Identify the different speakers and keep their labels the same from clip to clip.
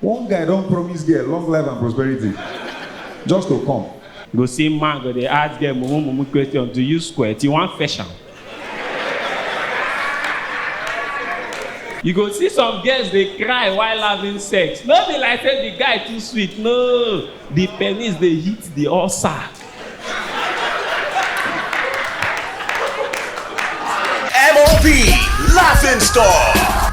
Speaker 1: One guy don promise girl long life and prosperity just to come. You go see man go dey ask girl mumu mumu question, do you squirt? You wan fetch am? You go see some girls dey cry while having sex. No be like say the guy too sweet, no. The penis dey hit the ulcer. MOB Laughing Stock.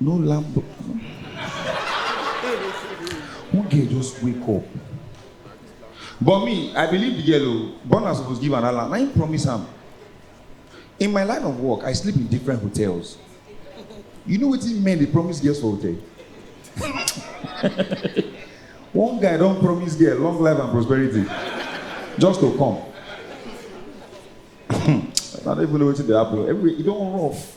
Speaker 1: No lambo. One girl just wake up. But me, I believe the girl o. Burna suppose give another land. Na him promise am. In my line of work, I sleep in different hotels. You know wetin men dey promise girls for hotel? One guy don promise girl long life and prosperity just to come. I don't even know wetin dey happen. Everywhere e don rough.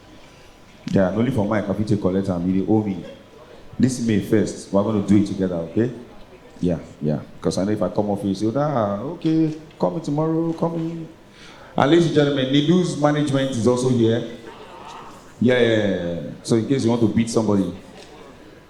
Speaker 1: Yeah, na only for mic I fit take collect am. You dey owe me. Listen me first. We're gonna do it together, okay? Yeah, yeah. Because I know if I come off, you say, ah, okay, call me tomorrow, call me. And ladies and gentlemen, Nidu's management is also here. Yeah, yeah, yeah. So in case you want to beat somebody,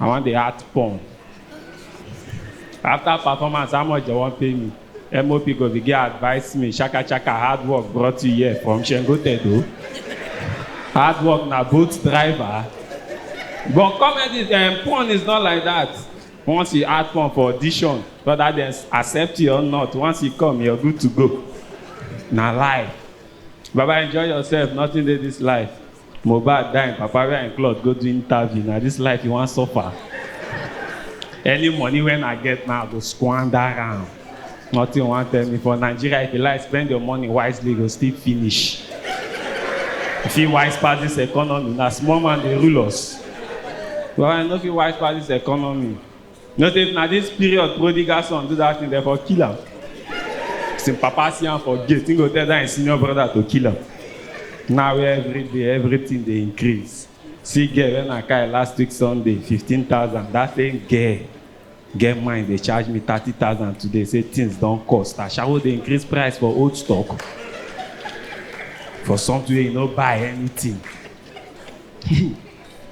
Speaker 1: I wan dey act porn. After performance, how much dem wan pay me? MOP go begin advise me, shaka shaka, hard work brought you here from Shengo Tedo. Hard work na boat driver. But comedy, um, porn is not like that. Once you act porn for audition, whether dem accept you or not, once you come, you're good to go. Na life. Baba, enjoy yourself, nothing dey this life. Mohbad die im papa wear im cloth go do interview na this life you wan suffer any money when I get now I go squander am nothing you wan tell me for Nigeria if you like spend your money wisely you go still finish you fit wise pass this economy na small man dey rule us but I no fit wise pass this economy. No say if na this period prodigal son do that thing, dem for kill am. As him papa see am for gate, he go tell that him senior brother to kill am. Now where every day everything dey increase. See girl when I carry last week Sunday, fifteen thousand. That same girl get mind dey charge me thirty thousand today say things don cost. Ashawo dey increase price for old stock for something wey you no buy anything.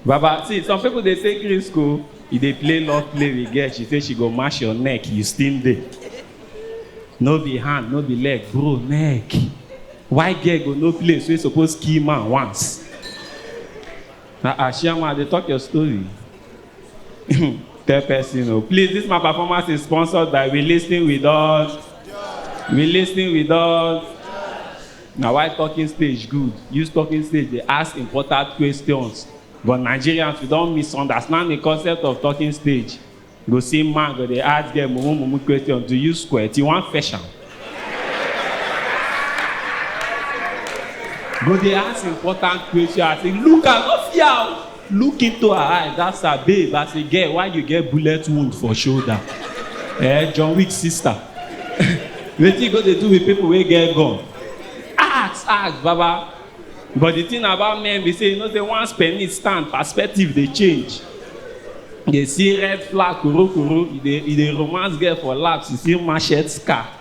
Speaker 1: Baba, see, some people they take risk, oh. You they play love play with girl. She say she go mash your neck. You still there. No be hand, no be leg, bro, neck. Why girl go no place? We suppose kill man once. Na ah, Shama, they talk your story. Tell person, oh. Please, this my performance is sponsored by We Listening With Us. We Listening With Us. Na why talking stage good, use talking stage dey ask important questions but Nigerians we don misunderstand the concept of talking stage, you go see man go dey ask girl mumu mumu question, do you squirt, you wan fetch am? Go dey ask important question as in look am no fear o. Look into her eyes ask her babe as a girl why you get bullet wound for shoulder eh John Wick sister wetin you go dey do with people wey get gun ask ask baba but the thing about men be say you know say once penis stand perspective dey change you dey see red flag korokoro you dey you dey romance girl for laps you see machete scar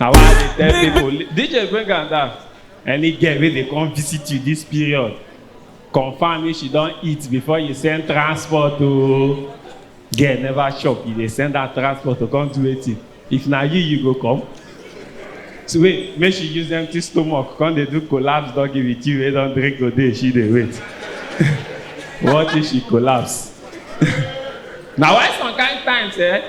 Speaker 1: Na why I dey tell Big- people, li- DJ bring am down. Any girl wey dey come visit you this period, confirm if she don eat before you send transport o. Girl never chop, you dey send her transport to come do wetin? If na you, you go come? So wait, make she use empty stomach come dey do collapse doggy with you wey don drink today, she dey wait. What if she collapse? Na why some kind times eh,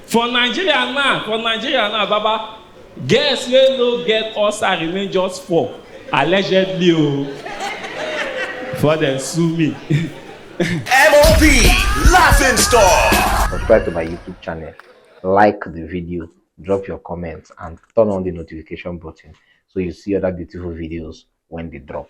Speaker 1: For Nigeria now, for Nigeria now baba, girls wey no get ulcer remain just four, allegedly o, before dem sue me. MOB Laughing Store. Subscribe to my YouTube channel, like the video, drop your comments, and turn on the notification button so you see other beautiful videos when they drop.